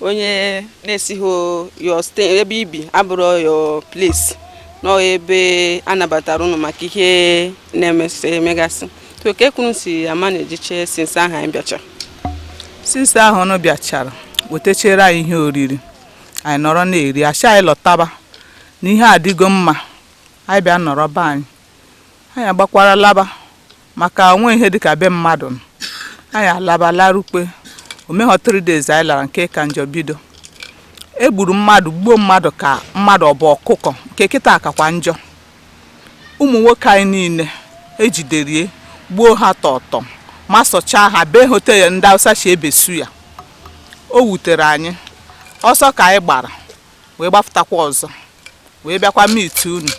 onye na-esighị your state ebe i bi abụrụ your place nọ ebe a nabatara ụnụ maka ihe na-emesị emegasị so ka ekwuru si a manage che since ahụ anyị bịacha since ahụ ụnụ bịachara wetachere anyị ihe oriri anyị nọrọ na-eri a shị anyị lọtaba na ihe adịgo mma anyị bịa nọrọ be anyị anyị agbakwara laba maka o nwe ihe dịka be mmadụ nọ. anyị alaba larukwe o meghọ 3 days anyị lara nke ka njọ bido e gburu mmadụ gbuo mmadụ ka mmadụ ọ bụ ọkụkọ nke kịta kakwa njọ ụmụ nwoke anyị niile e jiderie gbuo ha tọtọ ma sọchaa ha bee ha ote ndị awụsa si ebe suya o wutere anyị ọsọ ka anyị gbara wee gbapụtakwa ọzọ wee bịakwa meet unu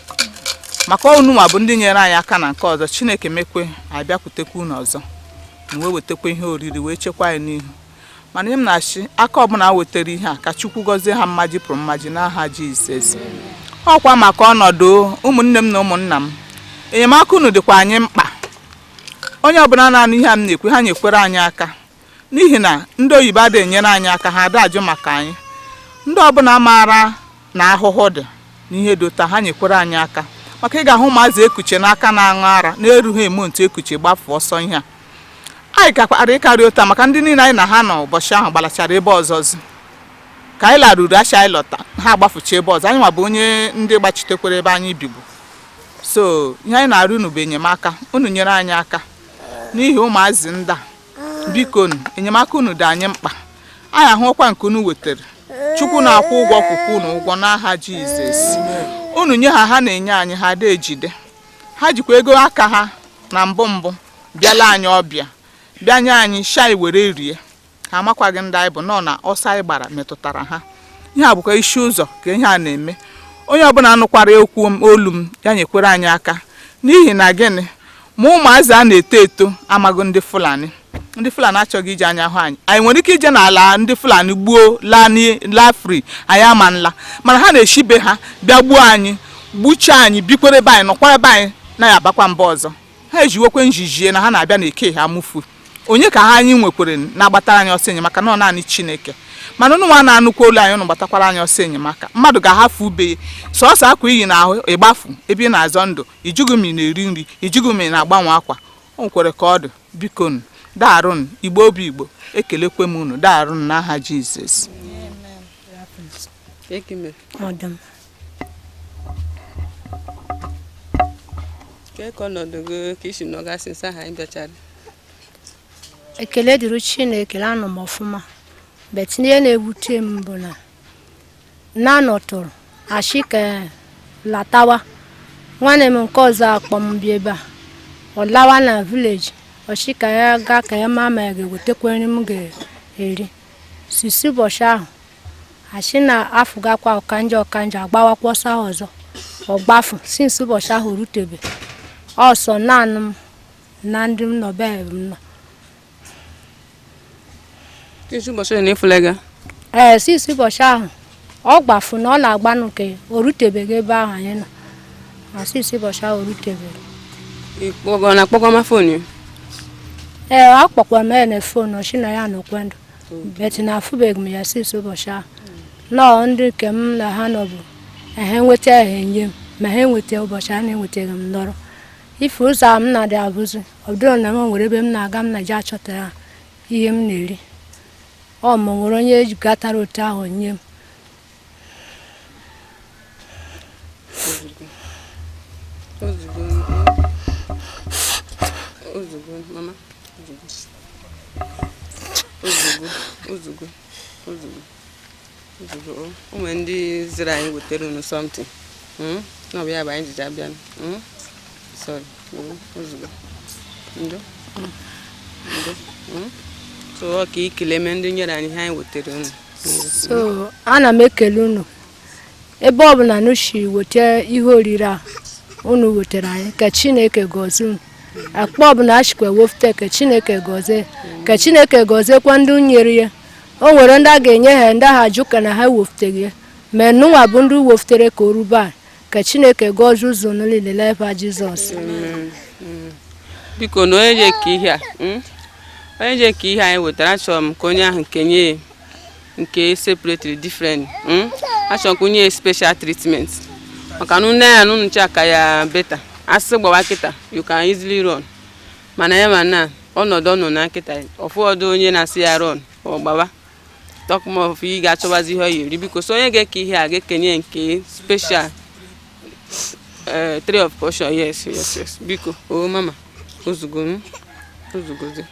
maka unu nwa bụ ndị nyere anyị aka na nke ọzọ chineke mekwe anyị bịakwutekwa unu ọzọ unu wee wetekwa ihe oriri wee chekwa anyị n'ihu mana ihe m na-ashị aka ọbụla wetere ihe a ka chukwu gọzie ha mmaji pụrụ mmaji n'aha jizọs ọkwa maka ọnọdụ ụmụnne m na ụmụnna m enyemaka unu dịkwa anyị mkpa onye ọbụla na-anụ ihe a m na-ekwu ha nyekwere anyị aka n'ihi na ndị oyibo adịghị enyere anyị aka ha ada ajụ maka anyị ndị ọbụla maara na ahụhụ dị n'ihe dị otu a ha nyekwere anyị aka maka ị ga-ahụ ụmụazị e kuche n'aka na-aṅụ ara na-erughị eme ntu e kuche gbafu ọsọ ihe a anyị gakwara ịkarị otu a maka ndị niile anyị na ha nọ ụbọchị ahụ gbalachara ebe ọzọzi ka anyị laruru a shị anyị lọta ha agbafucha ebe ọzọ anyị nwa bụ onye ndị gbachitekwara ebe anyị bibu so ihe anyị na-arịọ unu bụ enyemaka unu nyere anyị aka n'ihi ụmụazị ndị a biko enyemaka unu dị anyị mkpa anyị ahụọkwa nke unu wetere chukwu na-akwụ ụgwọ kwụkwa unu ụgwọ n'aha jizọs unu nye ha ha na-enye anyị ha ada ejide ha jikwa ego aka ha na mbụ mbụ bịala anyị ọbịa bịa nye anyị shị anyị were rie ha amakwaghị ndị anyị bụ nọ na ọsọ anyị gbara metụtara ha ihe a bụkwa Isi-Ụzọ ka ihe a na-eme onye ọbụla nụkwara okwu olu m ya nyekwere anyị aka n'ihi na gịnị ma ụmụazị a na-eto eto amaghị ndị Fulani ndị Fulani achọghị iji anya hụ anyị anyị nwere ike ije n'ala ndị Fulani gbuo laa free anyị ama nla mana ha na-eshi be ha bịa gbuo anyị gbuchaa anyị bikwere ebe anyị nọkwa ebe anyị na-abakwa mba ọzọ ha ejiwekwe njijie na ha na-abịa na Eha-Amufu onye ka anyị nwekwere na-agbatara anyị ọsọ enyemaka na ọ naanị chineke mana ụnụ nwa na-anụkwa olu anyị ụnụ gbatakwara anyị ọsọ enyemaka mmadụ ga-ahafụ ube ya sọsọ akwa i yi n'ahụ ị gbafu ebe ị na-azọ ndụ ị jụghị m ị na-eri nri ị jụghị m ị na-agbanwe akwa o nwere ka ọ dị biko nụ daarụ nụ igbo bụ igbo ekelekwe m unu daarụ nụ n'aha jizọs Amen. Ọ dị mma. Kee ka ọnọdụ gị ka i si nọga since ahụ anyị bịachara. ekele dịrị chineke anọ m ọfụma but ihe na-ewute m bụ na na a nọtụrụ a sị ka latawa nwanne m nke ọzọ a kpọ m bịa ebe a ọ lawa na village ọ sị ka ya gaa ka ya maa ma ya ga-ewetekwa nri m ga-eri since ụbọchị ahụ a sị na afụgakwa ọkanja ọkanja agbawakwa ọsọ ahụ ọzọ ọ gbafu since ụbọchị ahụ rutebe ọ sọ naanị m na ndị m nọ be m nọ since ụbọchị ole na ị fụla ego ee since ụbọchị ahụ ọ gbafu na ọ na-agbanụ nke o rutebeghị ebe ahụ anyị nọ na since ụbọchị ahụ o rutebeghị ị kpọgọ na akpọgọ ma phone ya ee akpọkwara m ya na phone ọ sị na ya nọkwa ndụ but na afụbeghị m ya since ụbọchị ahụ na ọ ndị nke m na ha nọ bụ na ha enweta ha enye m ma ha enweta ụbọchị a na-enwetaghị m nọrọ ife ọzọ a m na-adị abụzi ọ bụrụ na m nwere ebe m na-aga m na-eje achọta ihe m na-eri ọ ma o nwere onye gatara otu ahụ nye m o zugo mama o zugo o zugo o zugo o nwere ndị ziri anyị wetara unu something hmm? na ọ bụ ya bụ anyị jiji abịa hmm? sorry o zugo ndo ndo hmm? so ọ ka i kelee m ndị nyere anyị ihe anyị wetara unu so ana m ekele unu ebe ọ bụla nụ si weta ihe oriri a unu wetara anyị ka chineke gọzie unu akpa ọ bụla e sikwa wefute ka chineke gọzie ka chineke gọziekwa ndị nyere ya o nwere ndị a ga-enye ha ndị ahụ ajụkwa na ha wefụteghị ya ma nụnwa bụ ndị wefụtere ka o ruo ebe a ka chineke gọzie ụzọ niile n'aha jizọs biko na onye je-eke ihe a hmm? onye je-eke ihe anyị wetara achọrọ m ka onye ahụ kenye ya nke separate different hmm? achọrọ ka o nye special treatment maka na nee ya na unu cha ka ya better a sị gbawa kịta you can easily run mana ya ma na ọnọdụ ọ nọ na kịta ọfọdụ onye na-asị ya run ọ gbawa talk more of ị ga-achọwazi ihe ọ ya-eri biko so onye ga-eke ihe a ga-ekenye nke special eh, triple portion yes yes yes biko o oh, mama o zugo o zugozi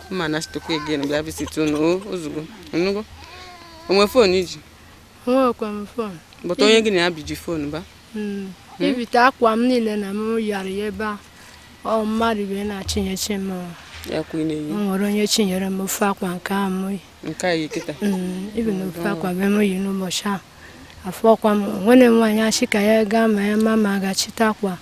ma na chitokwa again bịa visit unu ozugbo nnugo o nwee fon i ji nwekwa m fon bụta onye gị na ya bi ji fon ba hmm. Hmm? ibite akwa m niile na m yara ya ebe a ọ mmadụ wee na-achịnyechi m nwere onye chịnyere m ofu akwa nke a m hmm, ibi na ofu akwa be m yi n'ụbọchị ahụ afọ ọkwa m nwere nwaanyị sị ka ya gaa ma ya ma ma gachite akwa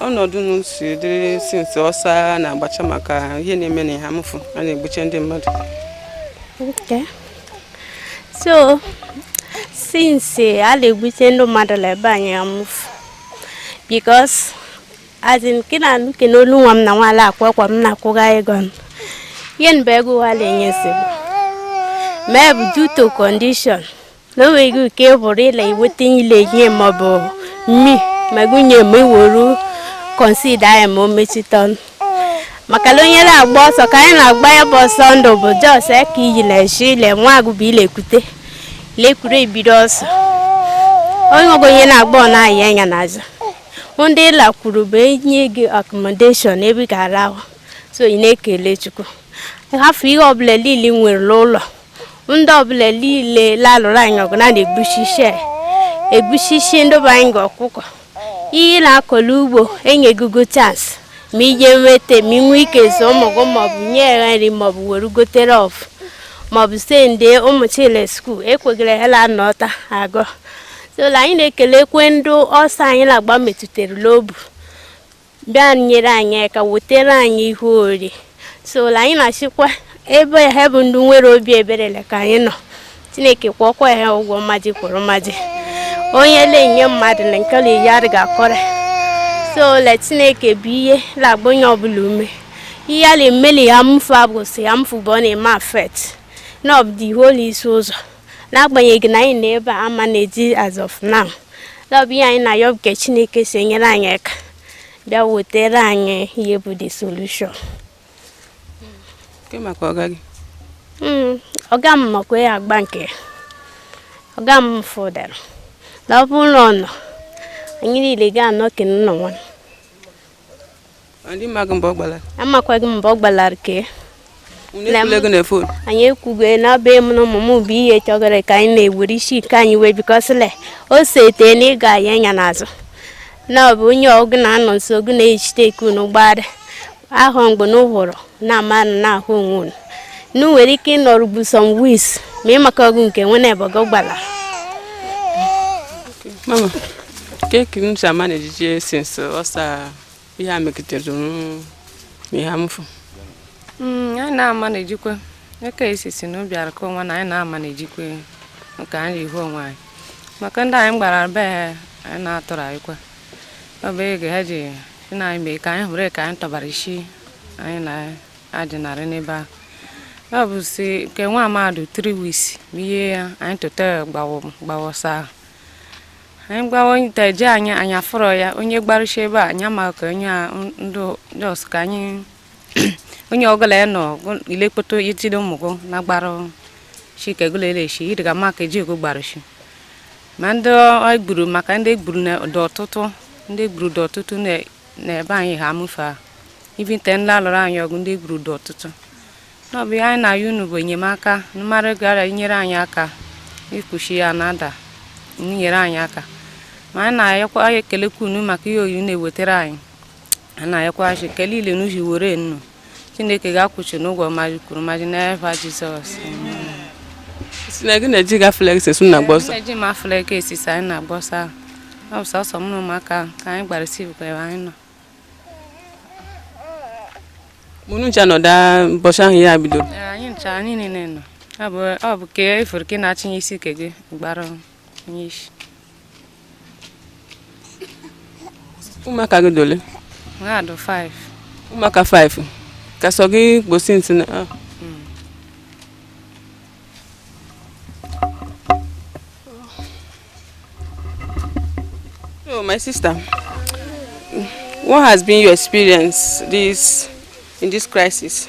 ọnọdụ unu si dịrị since ọsọ a na-agbacha maka ihe na-eme na Eha-Amufu a na-egbuche ndị mmadụ okay so since a na-egbuche ndị mmadụ na be anyị Eha-Amufu because as in ke na anụ ke n'olu nwa m na nwaala akwa akwa m na-akwụga ego m ihe nba ego ụwa na-enye nsogbu maybe due to condition na o nweghị ike bụrụ ịla iweta ile ihe maọbụ mmi ma gụnye ma iwuru consider anyị ma o mechite ọnụ maka na onye na-agba ọsọ ka anyị na-agba ya bụ ọsọ ndụ bụ just ka iyi na eshi ile nwa agụba ilekwute lekwuru ebido ọsọ onye ọgụ onye na-agba ọ na-ayị anya n'azụ ndị ị lakwuru bụ enye gị accommodation ebe ị ga-arahụ so ị na-ekele chukwu hafụ ihe ọbụla niile i nwere n'ụlọ ndị ọbụla niile la-alụrụ anyị ọgụ na na-egbuchi isi egbuchi isi ndị bụ anyị ga ọkụkọ ihe na-akọrọ ugbo enyegogo chance ma i je wete ma i nwee ike zụọ ụmụ gị maọbụ nye ha nri maọbụ were gotere ọfụ maọbụ send ụmụ chile school ekwegara ha la anọta agụ so la anyị na-ekelekwe ndị ọsọ anyị na-agba metụtara n'obu bịa nyere anyị aka wetara anyị ihe ori so anyị na-asịkwa ebe ha bụ ndị nwere obi ebere le ka anyị nọ chineke kwụọkwa ha ụgwọ mmadụ kwụrụ mmadụ onye na-enye mmadụ na nke ya adịghị akọrọ so le chineke bụ ihe na-agba onye ọbụla ume ihe a na-eme l'Eha-Amufu abụghị sọ Eha-Amufu bụ ọ na-eme affect na ọ bụ the whole Isi-Ụzọ n'agbanyeghị na anyị nọ ebe a a-manage as of now na ọ bụ ihe anyị na-ayọ bụ ka Chineke si nyere anyị aka bịa wetara anyị ihe bụ the solution hmm, ọga m makwa ya agba nke ọga m fụdara na ọ bụrụ na ọ nọ anyị niile ga-anọ kene nọ nwa Ị maghị mgbe ọ gbalara. Amakwaghị m mgbe ọ gbalara kee. Unu ekwula ego na fon. Anyị ekwugo na ọ bụ mụ na ụmụ m bụ ihe chọgara ka anyị na-ewere isi nke anyị wee because le o sete na ị ga-aya anya n'azụ na ọ bụ onye gị na ya nọ nso gị na-ejite eke unu gbara ahụ mgbe unu hụrụ na amanụ na-ahụ onwe unu na nwere ike ịnọrụ bụ some weeks ma ị maka ọgụ nke nwe na-ebe gị gbara mama keki m si amanage since ọsa ihe a megidere m Eha-Amufu mm, anyị na-amanagekwa eke isi si na obi arụkọ onwe na anyị na-amanagekwa nke anyị ihu onwe anyị maka ndị anyị gbara be anyị na-atụrụ anyịkwa ọ bụ ego ha ji si na anyị mee ka anyị hụrụ ka anyị tọbara isi anyị na-adịnarị n'ebe ahụ ọ bụ si nke nwa mmadụ 3 weeks ma ihe ya anyị tụta gbawa ọsọ ahụ anyị gbawa onye ite eje anyị anyị afụrọ ya onye gbarụcha ebe a anyị amaghị ka onye a ndị ọsụ ka anyị onye ọgụla ya nọ ilekpoto itide ụmụgụ na gbara chike gụla eleshi ịdịga maka eji ego gbaruchi ma ndị e gburu maka ndị e gburu dị ọtụtụ ndị e gburu dị ọtụtụ n'ebe anyị Eha-Amufu a ibi nte ndị alụrụ anyị ọgụ ndị e gburu dị ọtụtụ na ọ bụ ihe anyị na-ayọ unu bụ enyemaka mmadụ gara inyere anyị aka ikpuchi ya na ada nyere anyị aka ma anyị na-ayọkwa ekelekwa unu maka ihe oyi na-ewetara anyị a na-ayọkwa chi ka niile n'uhi were nnu Chineke ga-akwụchi unu ụgwọ mmaji kwuru mmaji n'efa Jizọs si na gị na-eji gafere esu na-agba ọsọ eji m afụla ego esisi anyị na-agba ọsọ ahụ. ọ bụ sọsọ m na ụmụaka ahụ ka anyị gbara sivụ ka ebe anyị nọ unu ncha nọda mbọchị ahụ ihe a bidoro Ee, anyị ncha anyị niile nọ ọ bụ ọ bụ ka efuru ka ị na-achịnye isi ke gị gbara ọnụ. ụmụaka gị dị ole ụmụaka 5 ka sọ gị gbosi ntị na ah. So, my sister, what has been your experience this in this crisis?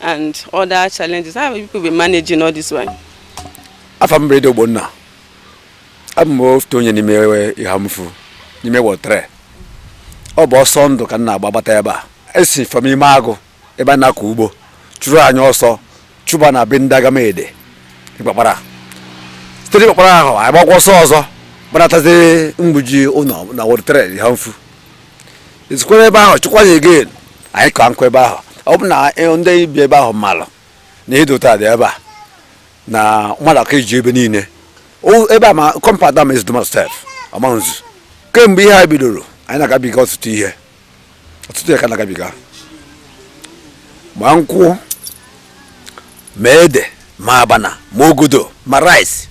and other challenges how have you people been managing all this while afa m bụ Ede Ogbonna abụ m otu onye n'ime Eha-Amufu n'ime Ward 3 ọ bụ ọsọ ndụ ka m na-agba gbata ebe a e si from ime agụ ebe a na-akọ ugbo chụrụ anyị ọsọ chụba na be ndị Agu-Amede Ikpakpara site n'Ikpakpara ahụ anyị gbakwa ọsọ ọzọ gbanatazi Mgbuji ụlọ na Ward 3 Eha-Amufu e sikwara ebe ahụ chụkwa anyị again anyị ka nọkwa ebe ahụ ọ bụ na ndị bi ebe ahụ malụ na ihe dị otu a dị ebe a na mmadụ aka iji ebe niile ebe a ma compound ama ezidoma stef amanzu kemgbe ihe a bidoro anyị na-agabiga ọtụtụ ihe ọtụtụ ihe ka na-agabiga ma nkwụ ma ede ma abana ma ogodo ma rice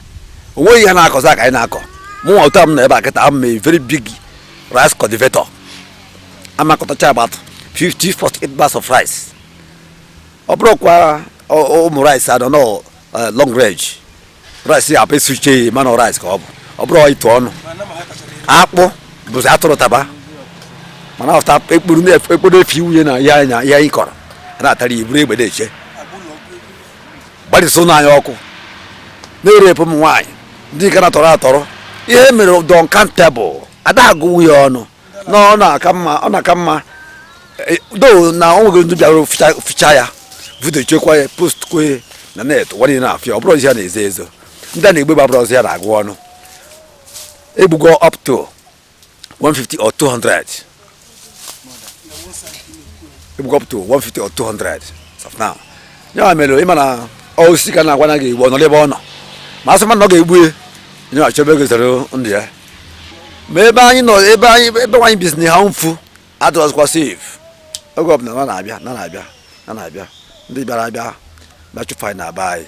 onweghị ihe na-akọzi aka anyị na-akọ mụnwa otu a m nọ ebe a kịta I'm a very big rice cultivator a m akọtacha about 50 48 bags of rice ọ bụrụkwa ụmụ rice a dị ọnụ eh, long range rice ya abụ esuche ya mana rice ka ọ bụ ọ bụrọ ịtụ ọnụ akpụ bụzi atụrụ taba mana ọta ekporo efi wunye na ihe anyị kọrọ na-atara ya buru egbe na-eche gbarịsị ụlọ anyị ọkụ na-erepụ ụmụ nwaanyị ndị nke a na-atọrọ atọrọ ihe mere dị uncountable ada agụwu ya ọnụ na ọ na-aka mma ọ na-aka mma e, though na ọ nweghị ndị bịara ficha ya video chekwa ya post kwe na net ụwa niile na-afụ ya ọ bụrọzi ihe a na-ezo ezo ndị a na-egbu egbu abụrọzi ihe a na-agụ ọnụ egbugo up to 150 or 200 egbugo up to 150 or 200 of now ya mere ịma na osisi ka a na-agwa na a ga-egbu ọ nọ ebe ọ nọ ma asị mmadụ na ọ ga-egbu ya onye achọ ebe ọ ga-ezere ndụ ya ma ebe anyị nọ ebe anyị ebe anyị bizi na Eha-Amufu adịrọzikwa safe oge ọbụla na na-abịa na na-abịa na na-abịa ndị bịara abịa bịa chụfụ anyị na be anyị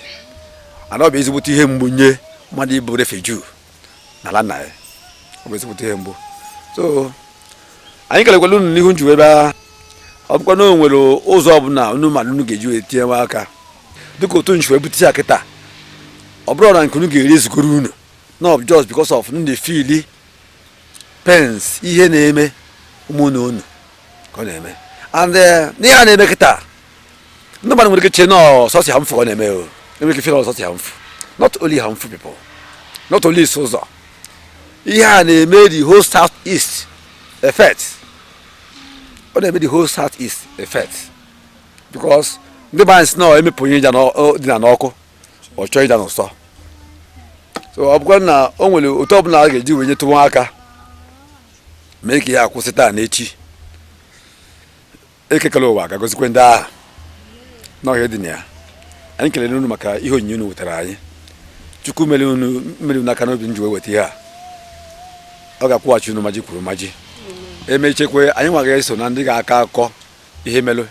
ana ọ bụ ezigbote ihe mgbu nye mmadụ ịbụ refugee n'ala nna ya ọ bụ ezigbote ihe mgbu so anyị kelekwala unu n'ihi unu ji wee bịa ọ bụkwa na o nwere ụzọ ọbụla unu ma na unu ga-eji wee tinye nwa aka dịka otu unu ji wee bute ihe a kịta ọ bụrọ na nke unu ga-eri ezugoro unu not just because of na unu fili pains ihe na-eme ụmụnne unu ka ọ na-eme and eh, ihe a na-eme kịta ndị mmadụ nwere ike chee na ọ sọsọ Eha-Amufu ọ na-eme o enwere ike feel ọ sọsọ Eha-Amufu not only Eha-Amufu people not only Isi-Uzo ihe a na-eme the whole south east effect ọ na-eme the whole south east effect because ndị be anyị sị na emepụ onye dina n'ọkụ ọ chọọ ịda n'ụsọ so ọ bụkwa na o nwere otu ọbụla a ga-eji wee nyetụwa aka mee ka ihe a kwụsị taa na echi Eke kele ụwa ga-agọzikwe ndị agha n'ọhịa dị na ya anyị kelere unu maka ihe onyinye unu wetara anyị Chukwu mere unu aka n'obi unu ji wee weta ihe a ọ ga-akwụghachi unu mmaji kwuru mmaji emechekwe anyị nwa ga-eso na ndị ga-akọ akọ ihe melụ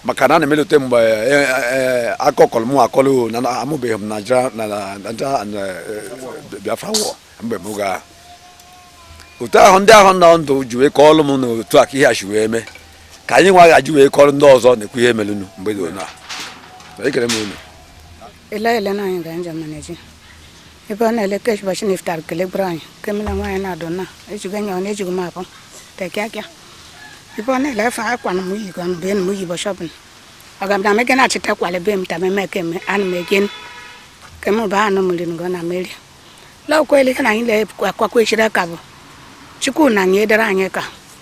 maka na ana m elote mgbe akọkọlụ m akọlụ na amụbeghị m Naịjirịa na Naịjirịa and Biafra war mgbe m ga otu ahụ ndị ahụ nọ ndụ ji wee kọọlụ m na otu a ka ihe a si wee mee ka anyị nwa ga-eji wee kọrọ ndị ọzọ na-ekwu ihe melụnụ mgbe dị ona ekele m unu Ela Elena Ayinga Njamanaji. ebe ọ na-ele ka ụbọchị na iftar kelegburu anyị nke mụ na nwaanyị na-adụ na ejigo nya ọ na-ejigo m abụ take care ebe ọ na-ele efe akwa na m yi gọ be na m yi ụbọchị ọbụla ọ ga na mege na-achịta kwale be m tama eme keme ana m egen kem bụ anụ mmiri ngọ na mmeri lọkwa ele ihe na anyị na-akwakwa echiri aka bụ chukwu na-enyedere anyị aka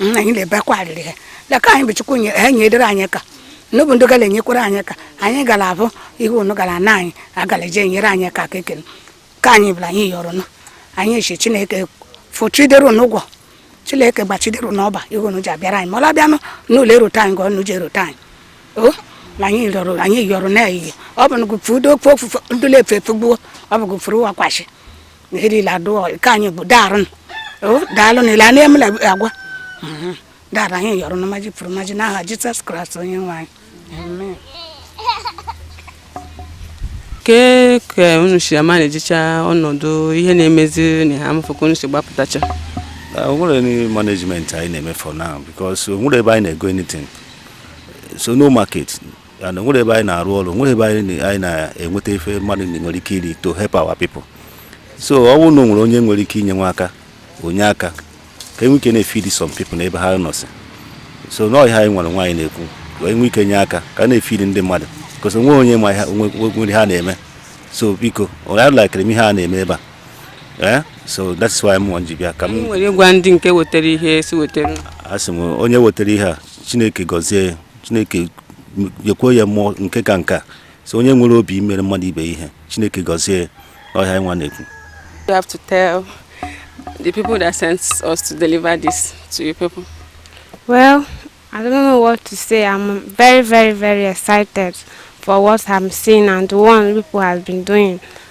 nna anyị na-ebekwa arịrị ha leka anyị bụ chukwu nye ha nyedere anyị aka n'obu ndị gara enyekwara anyị aka anyị gara abụ ihe unu gara na anyị agara eje enyere anyị aka ekele ka anyị bụla anyị yọrọ nụ anyị eche chineke fụchidere unu ụgwọ chineke gbachidere unu ọba ihe unu ji abịara anyị ma ọ labịanụ n'ụlọ erute anyị ka ọnụ ji erute anyị o na anyị yọrọ anyị yọrọ na ehihie ọ bụ na gụpụ udo ofe ofufe ndụla efe efegbuo ọ bụ gụpụrụ ụwa kwashi ihe niile adụọ ka anyị bụ daarụ o daalụ na ile a na-emela agwa Mhm. daarụ anyị yọrọ na maji pụrụ maji n'aha jizọs kraịst onye nwe anyị Amen. kee ka unu si amanagecha ọnọdụ ihe na-emezi na Eha-Amufu ka unu si gbapụtacha Uh, o nwerọ any management anyị na-eme for now because o nwerọ ebe anyị na-ego anything so no market ya na nwerọ ebe anyị na-arụ ọrụ nwerọ ebe anyị na-enweta ife mmadụ nwere ike iri to help our people so ọ bụrụ na o nwere onye nwere ike inye nwa aka o nye aka ka e nwee ike na-efeed some people na ebe ha nọsị so na ọ ihe anyị nwa anyị na-ekwu wee nwee ike nye aka ka na-efeed ndị mmadụ because o nwerọ onye ma nwere ha na-eme so biko onye lakịrị m ihe a na-eme ebe a eh? so that is why m ji bịa ka m wee gwa ndị nke wetara ihe si wetara a sị m onye wetara ihe a chineke gọzie ya chineke nyekwuo ya more nke ka nke a so onye nwere obi imere mmadụ ibe ihe chineke gọzie ọ ihe anyị nwa na-ekwu You have to tell the people that sent us to deliver this to you people. Well, I don't know what to say. I'm very, very, very excited for what I'm seeing and what people have been doing.